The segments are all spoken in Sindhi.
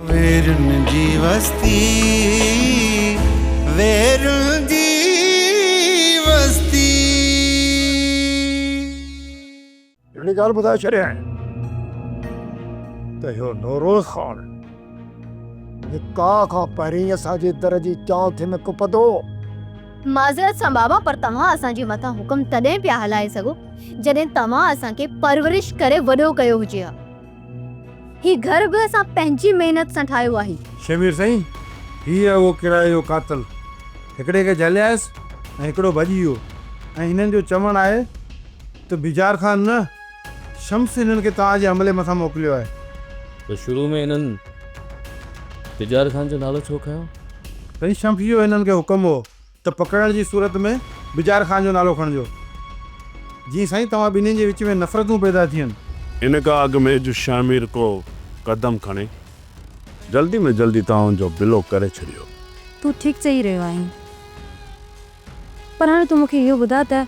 ويرن جي وستي ويرن جي وستي. هڪڙي ڳالهه ٻڌائي ڇڏيائين ته اهو نوروز خان نڪاح کان پهرين اسان جي در جي چانئٺي ۾ ڪپندو. معذرت سان بابا پر توهان اسان جي مٿان حڪم تڏهن پيا هلائي سگهو جڏهن توهان اسان کي پرورش ڪري وڏو ڪيو هجي ها. هي گهر به اسان پنهنجي محنت سان ٺاهيو آهي. شمير سائين هي آهي اهو ڪرائي جو قاتل. هڪڙي کي جهليائس ۽ هڪڙو ڀڄي ويو ۽ هنن جو چوڻ آهي ته بجار خان نه شمس هنن کي توهان جي حملي مٿان موڪليو آهي. ته شروع ۾ هنن بجار خان جو نالو ڇو کنيو؟ سائين شمس جو هنن کي حڪم هو ته پڪڙڻ جي صورت ۾ بجار خان جو نالو کڻجو. جي سائين توهان ٻنهين جي وچ ۾ نفرتون پيدا ٿين. ان کان اڳ ۾ جو شهمير ڪو قدم کڻي. جلدي ۾ جلدي توهان جو بلو ڪري ڇڏيو. تون ٺيڪ چئي رهيو آهين. پر هاڻي تون مون کي اهو ٻڌاء ته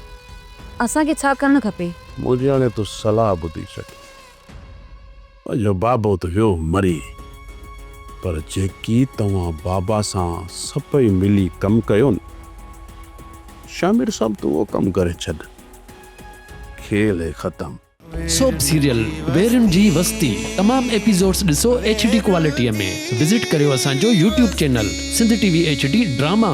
اسان کي ڇا ڪرڻ کپي. منهنجي هاڻي تون صلاح ٻڌي ڇڏ. جو بابو ته ويو مري پر جيڪي توهان بابا سان سڀئي ملي ڪم ڪيو نه شاهمير صاحب تون اهو ڪم ڪري ڇڏ کيل هي ختم. سوپ سيريل ويرين جي وستي تمام ايپيزوڊس ڏسو ايڇ ڊي ڪوالٽي ۾ وزٽ ڪريو اسان جو YouTube channel Sindh T V H D drama.